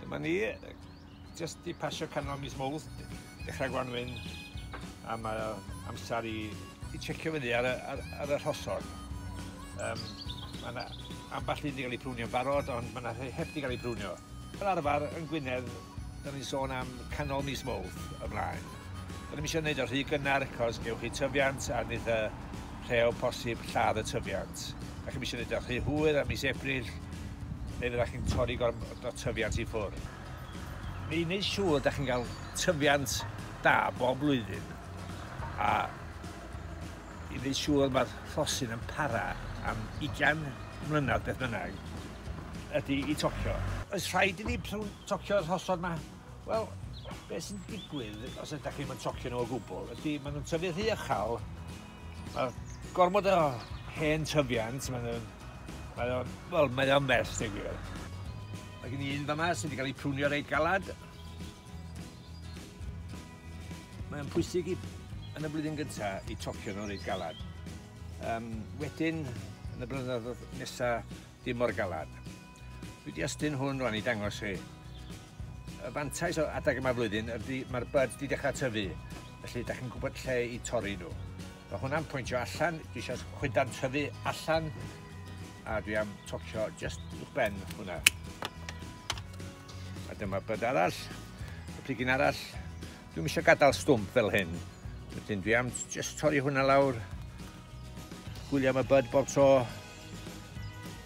Dyma ni, jyst di pasio canol mis Mowrth, dechrau gwanwyn, a mae amser i, i checio fyny ar, ar, ar y rhosod. Um, mae yna ambell un wedi cael ei prwnio'n barod, ond mae yna rhai heb wedi cael ei prwnio. Fel arfer, yn Gwynedd, da ni'n sôn am canol mis Mowrth ymlaen. Rydym eisiau gwneud o rhy gynnar cos gewch chi tyfiant a nid y rhe o bosib lladd y tyfiant. Dach chi'm eisiau gwneud o rhy hwyr a mis Ebrill neu fyddach chi'n torri gormod o tyfiant i ffwr. I wneud siŵr dach chi'n cael tyfiant da bob blwyddyn a i wneud siŵr mae'r rhosyn yn para am 20 mlynedd beth bynnag ydy i tocio. Oes rhaid i ni tocio y rhosod 'ma? Wel, beth sy'n digwydd os ydych chi'n mynd tocio nhw o gwbl, ydy maen nhw'n tyfu rhy ychal, mae gormod o hen tyfiant, maen nhw'n, maen nhw'n, wel, mae o'n mell, deg gwir. Mae gen i un fama sydd wedi cael ei prwnio reit galad. Mae'n pwysig i, yn y blwyddyn gyntaf i tocio nhw reit galad. Um, wedyn, yn y blynyddoedd nesaf, Dim mor galad. Dwi wedi ystyn hwn rwan i dangos chi. Y fantais o adeg yma flwyddyn ydy mae'r bud wedi dechrau tyfu, felly da chi'n gwybod lle i torri nhw. Mae hwnna'n pwyntio allan, dwi eisiau chwydan tyfu allan, a dwi am tocio just i'ch ben hwnna. A dyma byd arall, y pigyn arall. Dwi'n eisiau gadael stwmp fel hyn. Wedyn dwi am just torri hwnna lawr. Gwylio am y byd bob tro.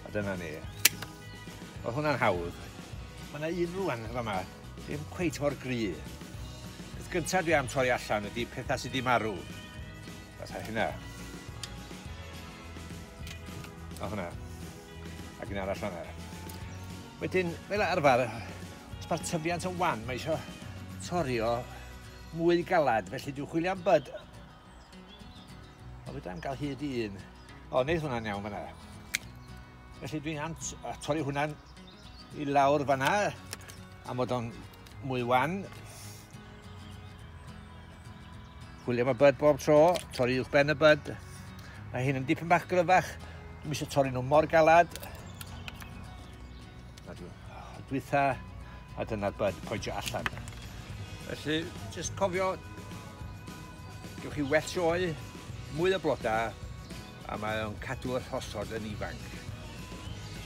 A dyna ni. Oedd hwnna'n hawdd. Mae yna un rwan yn fama, ddim cweit mor gry. Beth gyntaf dwi am troi allan ydy pethau sydd wedi marw. Fatha hynna. O hwnna. Ac un arall fanna. Wedyn, fel arfer, os mae'r tyfiant yn wan, mae eisiau torio mwy galad, felly dwi'n chwilio am byd O, fedra i'm gael hyd i un. O, wneud hwnna'n iawn fanna. Felly dwi'n am torri hwnna'n i lawr fanna, am fod o'n mwy wan. Gwylio mae byd bob tro, torri uwch ben y byd. Mae hyn yn dipyn bach gryfach, dwi'n eisiau torri nhw mor galad. A dwi yy dwytha a dyna'r bud pointio allan. Felly jyst cofio gewch chi well sioe, mwy o bloda a mae o'n cadw'r rhosod yn ifanc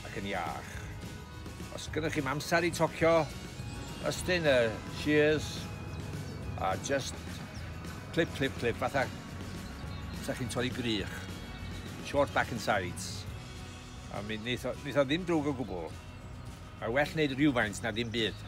ac yn iach. Os gennych chi'm amser i tocio, ystyn y shears a just clip, clip, clip, fatha sa chi'n torri grych. Short back and sides. A mi neith o, neith o ddim drwg o gwbl. Mae well wneud rhywfaint na ddim byd.